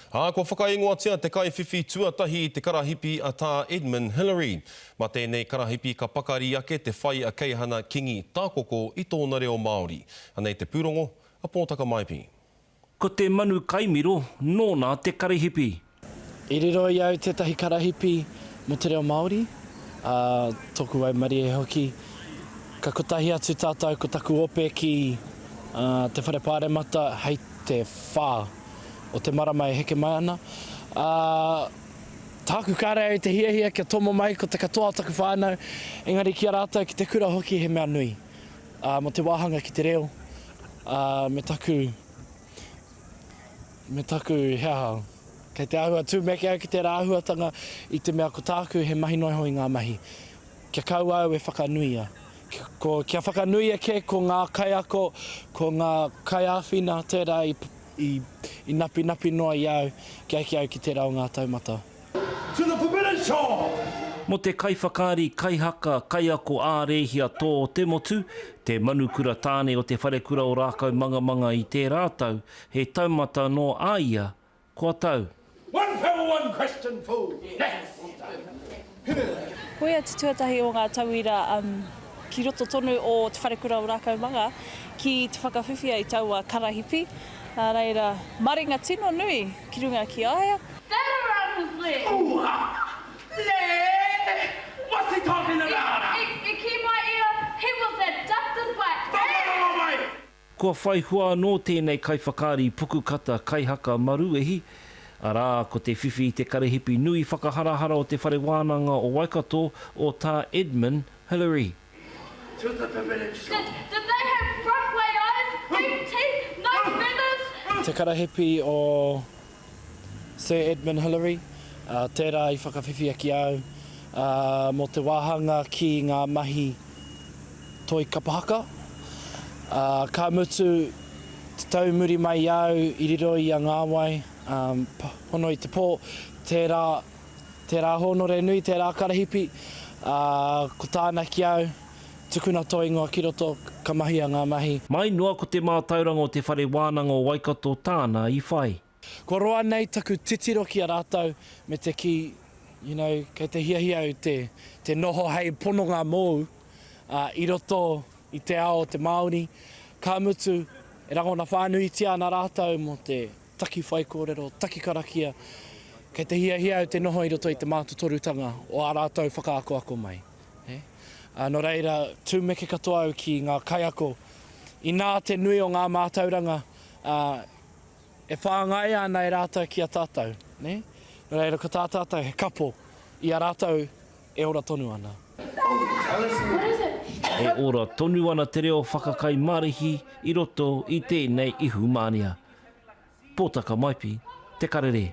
Ā, kua whakaingoatia te kaiwhiwhi tuatahi i te karahipi a Tā Edmund Hillary. Mā tēnei karahipi ka pakari ake te whai a Keihana Kingi Tākoko i tōna reo Māori. Anei te pūrongo a Pōtaka Maipi. Ko te manu kaimiro nōna te karahipi. I riro i au tētahi karahipi mō te reo Māori, ā, tōku waimarie hoki. Ka kotahi atu tātou ko taku ope ki te Whare Pāremata hei te whā. o te marama e heke mai ana, ā, tāku kāre au i te hiahia kia tomo mai ko te katoa o taku whānau, engari ki a rātou, ki te kura hoki he mea nui, ā, mō te wāhanga ki te reo, ā, me taku, me taku, he aha, kei te āhua tūmeke au ki tērā āhuatanga i te mea ko tāku he mahi noa iho i ngā mahi. Kia kaua au e whakanuia. Ko, kia whakanuia kē ko ngā kaiako, ko ngā kaiāwhina tērā i, i, i napinapi noa i a au, ki ai ki au ki tērā o ngā taumata. To the permitted shore! Mō te kaiwhakaari, kaihaka, kaiako ā-rēhia tō te motu, te Manukura Tāne o Te Wharekura o Rākaumangamanga i tērā tau, he taumata nō a ia Kua tau. One pebble one question fool! Next! Koia te tuatahi o ngā tauira ki roto tonu o Te Wharekura o Rākaumaga ki te whakawhiwhia i taua karahipi, ā reira maringa tino nui ki runga ki a ia. Kua whai hua anō tēnei kaiwhakaari puku kata kaihaka maruwehi, arā, ko te whiwhi i te karehipi nui whakaharahara o Te Whare Wānanga o Waikato, o Tā Edmund Hillary. Te karahipi o Sir Edmund Hillary, tērā i whakawhiwhia ki a au, mō te wāhanga ki ngā mahi toi kapa haka. Ka mutu te tau muri mai i a au i riro i a Ngāwai, hono i te pō, tērā, tērā hōnore nui, tērā karahipi, ko tāna ki au, Tukuna tō ingoa ki roto, ka mahia ngā mahi. Mai noa ko te mātauranga o Te Whare Wānanga o Waikato tāna i whai. Kua roa nei taku titiro ki a rātou me te kī, you know, kei te hiahia au te, te noho hei pononga mōu, ā, i roto i te ao o te Māori, ka mutu, e rangona whānuitia ana rātou mō te taki whaikōrero, taki karakia, kei te hiahia au te noho i roto i te mātotorutanga o ā rātou whakaakoako mai. Nō reira, tūmeke katoa au ki ngā kaiako, inā te nui o ngā mātauranga e whāngaia ana e rātou ki a tātou. Nō reira, ko tā tātou he kapo i a rātou e ora tonu ana. E ora tonu ana te reo whakakai marihi i roto i tēnei ihumāria. Pōtaka Maipi, Te Karere.